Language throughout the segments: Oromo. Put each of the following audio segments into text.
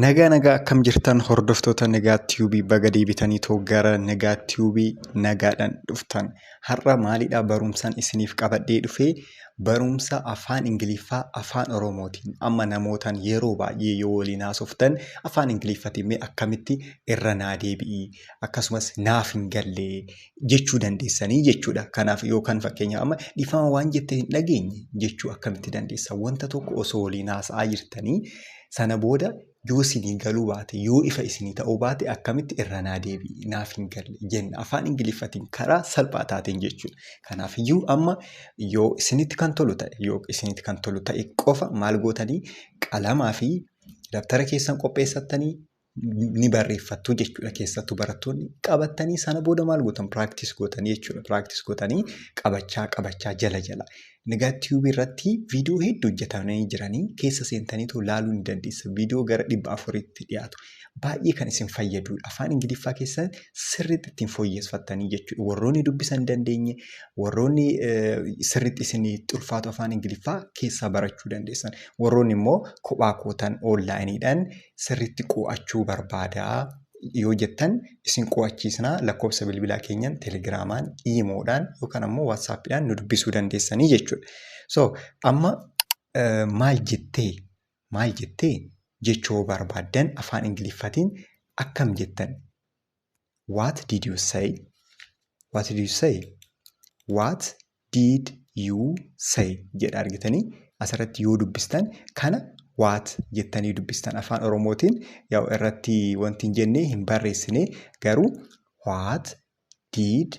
Nagaa nagaa akkam jirtan hordoftoota Nagaa Tiyuubii baga deebitanii too gara Nagaa Tiyuubii nagaadhaan dhuftan. Har'a maalidha barumsaan isiniif qabadhee dhufee barumsa afaan Ingiliffaa afaan Oromootiin amma namootaan yeroo baay'ee yoo waliin haasoftan afaan Ingiliffaatiin mee akkamitti irra naa deebi'i akkasumas naaf hin galle jechuu dandeessanii jechuudha. Kanaaf yookaan fakkeenyaaf amma dhifama waan jette hin dhageenye jechuu akkamitti dandeessa? Wanta tokko osoo waliin haasa'aa jirtanii sana booda yoo isinii galuu baate yoo ifa isinii ta'uu baate akkamitti irra naa deebi'i naaf hin galle jenna afaan ingiliffatiin karaa salphaa taateen jechuudha. Kanaaf iyyuu amma yoo isinitti kan tolu ta'e yoo isinitti kan tolu ta'e qofa maal gootanii qalamaa fi dabtara keessan qopheessattanii ni barreeffattu jechuudha keessattuu barattoonni qabattanii sana booda maal gootan piraaktis gootanii jechuudha piraaktis gootanii qabachaa qabachaa jala jala nagaa tiyuubii irratti viidiyoo hedduu hojjetamanii jiranii keessa seentanii too laaluu ni dandeessa viidiyoo gara dhibba afuritti dhiyaatu baay'ee kan isin fayyadu afaan ingiliffaa keessan sirriitti ittiin fooyyeffattanii jechuudha warroonni dubbisan hin dandeenye warroonni eh, sirriitti isin xulfaatu afaan ingiliffaa keessaa barachuu dandeessan warroonni immoo kophaa kootan oonlaayiniidhaan sirriitti qo'achuu barbaada yoo jettan isin qo'achiisna lakkoofsa bilbilaa keenyan telegiraamaan iimoodhaan yookaan ammoo waatsaappiidhaan nu dubbisuu dandeessanii jechuudha. So amma eh, maal jettee maal jettee jechoo barbaaddan afaan ingiliffatiin akkam jettan What did you say? What did you say? What did you say? jedha argitanii asirratti yoo dubbistan kana waat jettanii dubbistan afaan oromootiin yaw irratti wanti hin jenne hin barreessine garuu waat diid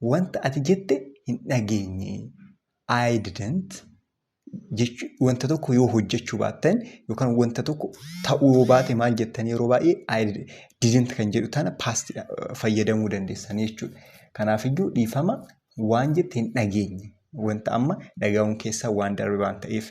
wanta ati jette hin dhageenye. I didn't jechu wanta tokko yoo hojjechuu baattan yookaan wanta tokko ta'uu yoo baate maal jettan yeroo baay'ee I didn't kan jedhu tana past fayyadamuu dandeessan jechuudha. Kanaafiyyuu dhiifama waan jette hin dhageenye. Wanta amma dhagahuun keessaa waan darbe waan ta'eef.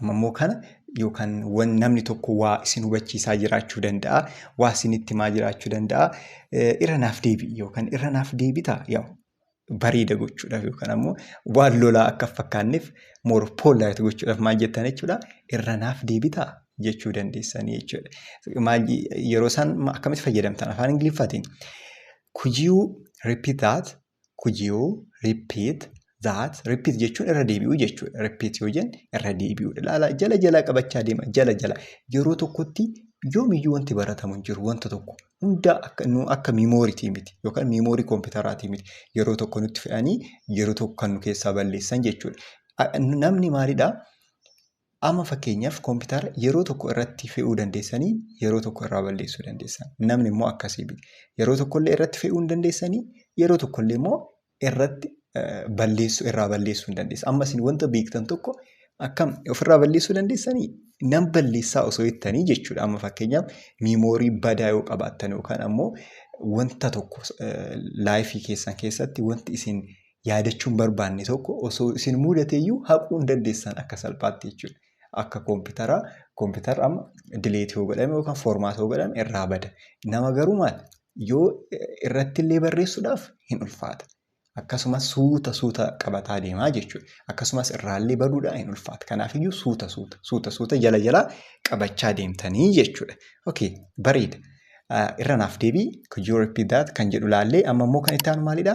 Amma immoo kana yookaan wan namni tokko waa isin hubachiisaa jiraachuu danda'a. Waa isinitti himaa jiraachuu danda'a. Eh, Irra naaf deebi'i yookaan irra naaf deebita yaa bareeda gochuudhaaf yookaan ammoo waan lolaa akka hin fakkaanneef more polite gochuudhaaf maal jettan jechuudha. Irra naaf deebita jechuu dandeessanii jechuudha. Maal yeroo isaan ma- akkamitti fayyadamtan afaan Ingiliffaatiin. Could you repeat that? Could you repeat that? Repeat jechuun irra deebi'uu jechuudha. Repeat yoo jennu irra deebi'uudha. Ilaalaa jala jalaa qabachaa deema. Jala jala yeroo tokkotti yoomiyyuu wanti baratamu hin jiru wanta tokko hundaa akka nu akka miimooriitii miti yookaan miimoorii kompiitaraatii miti yeroo tokko nutti fe'anii yeroo tokko kan nu keessaa balleessan jechuudha. A- Namni maalidha? Amma fakkeenyaaf koompitaara yeroo tokko irratti fe'uu dandeessanii yeroo tokko irraa balleessuu dandeessan. Namni immoo akkasii miti. Yeroo tokkollee irratti fe'uu hin dandeessanii yeroo tokkollee immoo irratti balleessuu irraa balleessuu hin dandeessan. Amma isin wanta beektan tokko akkam ofirraa balleessuu dandeessanii nan balleessaa osoo jettanii jechuudha. Amma fakkeenyaaf miimoorii badaa yoo qabaattan yookaan ammoo wanta tokko laayifii keessan keessatti wanti isin yaadachuu hin barbaanne tokko osoo isin muudate iyyuu haquu hin dandeessan akka salphaatti jechuudha. Akka koompitaraa koompitara amma dileetii yoo godhame yookaan foormaata yoo godhame irraa bada. Nama garuu maal yoo irratti illee barreessuudhaaf hin ulfaata. Akkasumas suuta suuta qabataa deemaa jechuudha. Akkasumas irraallee baduudhaan hin ulfaata. Kanaafiyyuu suuta suuta suuta suuta jala jalaa qabachaa deemtanii jechuudha. Okay, bareeda. Irra naaf deebii, could you repeat that kan jedhu laallee amma immoo kan itti aanu maalidha?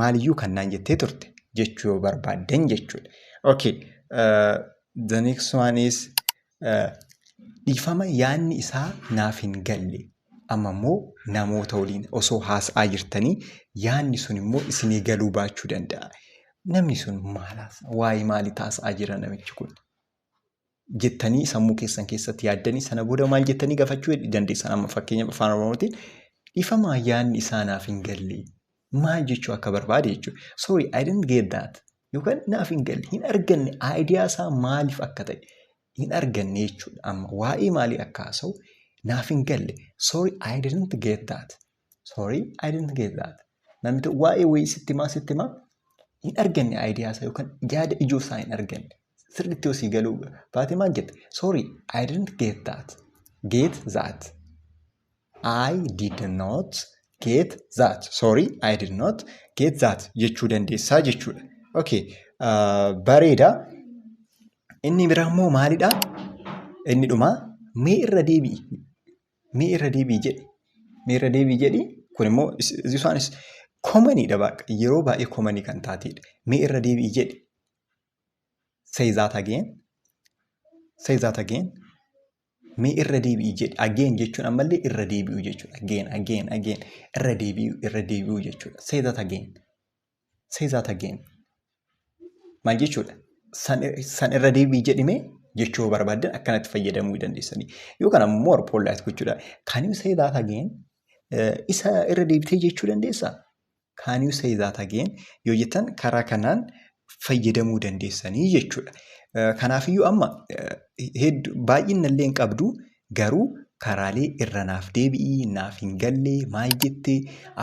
Maaliyyuu kan naan jettee turte jechuu yoo barbaaddan jechuudha. Okay. Uh, the next one is uh, dhiifama yaanni isaa naaf hin galle. Amma immoo namoota waliin osoo haasa'aa jirtanii yaanni sun immoo isinii galuu baachuu danda'a. Namni sun maal haasa'aa? Waa'ee maalii haasa'aa jira namichi kun? jettanii sammuu keessan keessatti yaaddanii sana booda maal jettanii gafachuu dandeessan amma fakkeenya afaan oromootiin dhifamaa yaadni isaa naaf hin galle maal jechuu akka barbaade jechuudha. Sorry I didn't get that yookaan naaf hin galle hin arganne idea isaa maaliif akka ta'e hin arganne jechuudha amma waa'ee maalii akka haasa'u naaf hin galle sorry I didn't get that Sorry, I didn't get that. Namni tokko waa'ee wayii sitti himaa sitti himaa hin arganne idea isaa yookaan yaada ijoo isaa hin arganne. Sirriitti yoo sii galuu baate maal jette? Sorry, I didn't get that. Get that. I did not get that. Sorry, I did not get that jechuu dandeessaa jechuudha. Okay, uh, bareeda. Inni biraa immoo maalidha? Inni dhumaa mee irra deebi'i. Mee irra deebi'i jedhi. Mee irra deebi'i jedhi. Kun immoo isaanis komaniidha baqa. Yeroo baay'ee komanii kan taateedha. Mee irra deebi'i jedhi. Say that again. Say that again. Mee irra deebi'i jedhi. Again jechuun ammallee irra deebi'u jechuudha. Again, again, again. Irra deebi'u, irra deebi'u jechuudha. Say that again. Say that again. Maal jechuudha? San, san irra deebi'i jedhimee jechuu yoo barbaaddan akkanatti fayyadamuu dandeessanii. Yookaan ammoo more polite gochuudha. Can you say that again? Eh, Isa irra deebitee jechuu dandeessaa? Can you say that again? Yoo jettan karaa kanaan fayyadamuu dandeessanii jechuudha. Eh, Kanaafiyyuu amma eh, heddu baay'inna illee hin qabdu Garuu karaalee irra naaf deebi'i naaf hin galle maal jette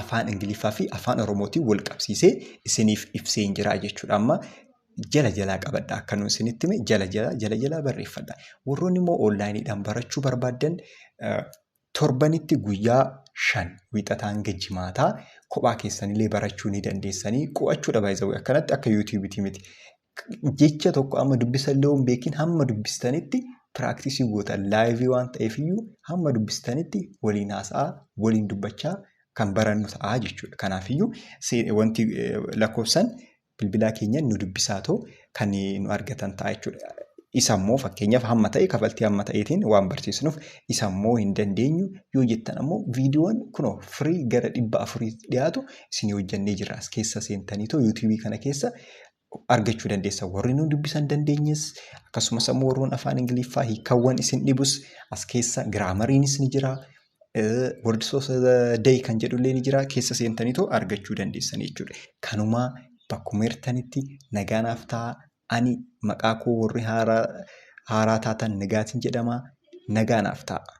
afaan ingiliffaa fi afaan oromootiin wal qabsiisee isiniif ibseen jira jechuudha amma jala jalaa qabadha akka nuun isinitti hime jala jala jala jalaa barreeffadha warroonni immoo onlaayiniidhaan barachuu barbaaddan eh, torbanitti guyyaa shan wiixataa hanga jimaataa kophaa keessanillee barachuu ni dandeessanii qo'achuudha baay'isawee akkanatti akka yuutuubiitii miti jecha tokko amma dubbisa illee hin beekin hamma dubbistanitti piraaktisii gootan laayivii waan ta'eef iyyuu hamma dubbistanitti waliin haasa'aa waliin dubbachaa kan barannu ta'a jechuudha. Kanaaf iyyuu wanti lakkoofsan bilbilaa keenyan nu dubbisaa too kan nu argatan ta'a jechuudha. Isa immoo fakkeenyaaf hamma ta'e kafaltii hamma ta'eetiin waan barsiisnuuf isa immoo hin dandeenyu yoo jettan ammoo viidiyoon kunoo firii gara dhibba afurii dhiyaatu isinii hojjannee jirra as keessa seentanii too yuutuubii kana keessa argachuu dandeessa. Warri nu dubbisan dandeenyes akkasumas ammoo warroon afaan Ingiliffaa hiikawwan isin dhibus as keessa giraamariinis ni jira. Words of the day kan jedhullee ni jira. Keessa seentaniitoo argachuu dandeessan jechuudha. Kanumaa bakkuma jirtanitti nagaa naaf ta'a. Ani maqaa koo warri haaraa haaraa taatan nagaatiin jedhama. Nagaa naaf ta'a.